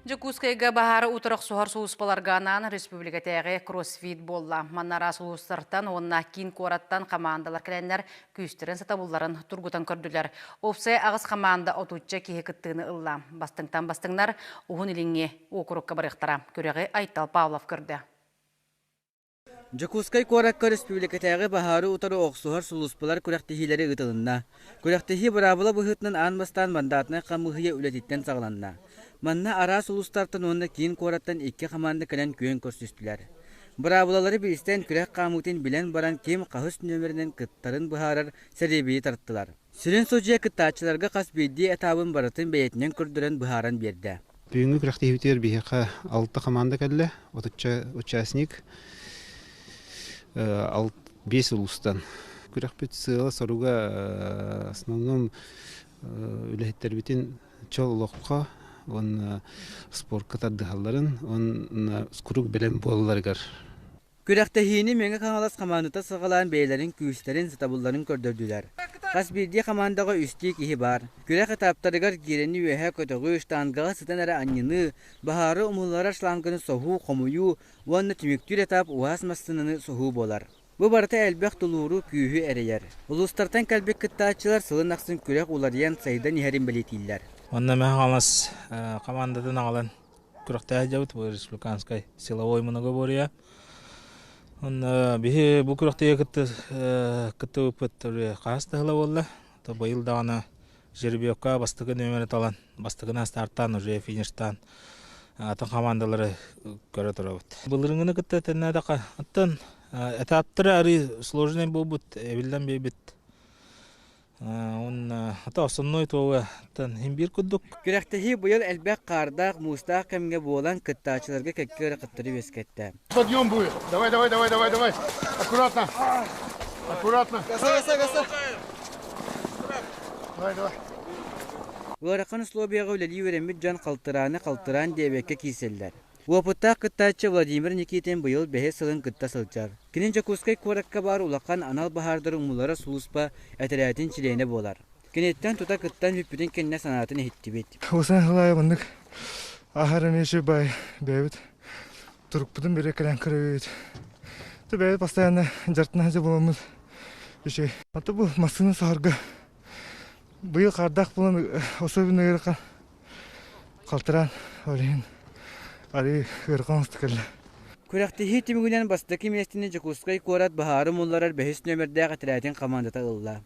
Дьокуускайга баһар утарахсуһар сулууспаларга анаан республикатааҕы кроссфит буолла. Манна араас улуустартан уонна киин куораттан хамаандалар кэлэннэр күүстэрин сатабылларын тургутан көрдүлэр. Уопсай аҕыс хамаанда отучча киһи кыттыыны ылла. Бастыҥтан бастыҥнар уһун-илиҥҥи уокурукка барыахтара. Күрэҕи Айтал Павлов көрдө. Дьокуускай куоракка республикатааҕы баһаары утары охсуһар сулууспалар күрэхтэһиилэри ыытылынна. Күрэхтэһии быраабыла быһыытынан аан бастаан мандатнай хамыыһыйа үлэтиттэн саҕаланна. Манна араас улуустартан уонна киин куораттан икки хамаанда кэлэн күөн көрсүстүлэр. Быраабылалары билсэн, күрэх хаамыытын билэн баран, ким хаһыс нүөмэринэн кыттарын быһаарар сэриэбийи тартылар. Сүрүн судьуйа кыттааччыларга хас биирдии этаабын барытын бэйэтинэн көрдөрөн быһааран биэрдэ. Бүгүҥҥү күрэхтэһиибитигэр биһиэхэ алта хамаанда кэллэ, отучча участник, биэс улуустан. Күрэхпит сыала-соруга основном үлэһиттэрбитин чөл олоххо уонна спортка тардыһалларын уонна курук бэлэм буолалларыгар Күрэхтэһиини Мэҥэ Хаҥалас хамаандата саҕалаан бэйэлэрин күүстэрин, сатабылларын көрдөрдүлэр. Хас биирдии хамаандаҕа үстүү киһи баар. Күрэх этаптарыгар киирэни үөһэ көтөҕүү, штангаҕа сытан эрэ анньыныы, баһаары умулларар шланганы соһуу, хомуйуу уонна түмүктүүр этап уһаас массыынаны соһуу буолар. Бу барыта элбэх тулууру, күүһү эрэйэр. Улуустартан кэлбит кыттааччылар сылын ахсын күрэх уларыйан, сайдан иһэрин бэлиэтииллэр. Онно Мэҥэ Хаҥалас хамаандатын аҕалан күрэхтэһэ дьабыт бу республиканскай силовое многоборье онно биһи бу күрэхтэһиигэ кытты кыттыбыппыт хаһыс да сыла буолла то быйыл даҕаны жеребьевка бастакы нүөмэри талан бастакына стартаан уже фиништаан атын хамаандалары көрө турабыт былырынгыны кытта тэннээтэххэ оттон этаптары арыый сложный буолбут эбиллэн биэрбит уонна ата основной туолуттан хин биир курдук күрэхтэһии быйыл элбэх хаардаах муустаах кэмҥэ буолан кыттааччыларга кэкки өрө көтөрү үөскэттэ стадион будет давай давай давай давай давай аккуратно аккуратно давай давай ыарахан условияҕа үлэлии үөрэммит дьон халтырааны халтыраан диэбэккэ киирсэллэр Уопуттаах кыттааччы Владимир Никитин быйыл бэһис сылын кытта сылдьар. Кини Дьокуускай куоракка баар улахан анал баһаардар умуллара сулууспа этэрээтин чилиэнэ буолар. Киниттэн тута кыттан бүппүтүн кэннэ санаатын иһиттибит. Хомусаан салаайа маннык ааһар эмиэ үчүгэй баай бэйэбит турукпутун бэрэ кэлэн көрөбүт. Ты бэйэбит постоянно дьартына садьа буламмыт үчүгэй. Аты бу массыына саһарга быйыл хардах булан особенно ыйырхан Халтыраан ол иһин арыы ыарҕа оҥосто кэллэ. Күрэхтэһии түмүгүнэн бастакы миэстэни Дьокуускай куорат баһаары мулларар бэһис нүөмэрдээх этэрээтин хамаандата ылла.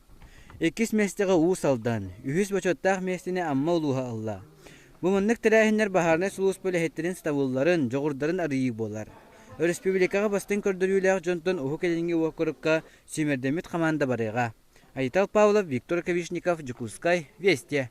Иккис миэстэҕэ Уус Алдан, үһүс бочуоттаах миэстэни Амма улууһа ылла. Бу маннык тэрээһиннэр баһаарынай сулууспа үлэһиттэрин сатабылларын, дьоҕурдарын арыйыы буолар. Өрөспүүбүлүкэҕэ бастыҥ көрдөрүүлээх дьонтон Уһук Илиҥҥи уокурукка сүүмэрдэммит хамаанда барыаҕа. Айтал Павлов, Виктор Ковишников, Дьокуускай, Вестия.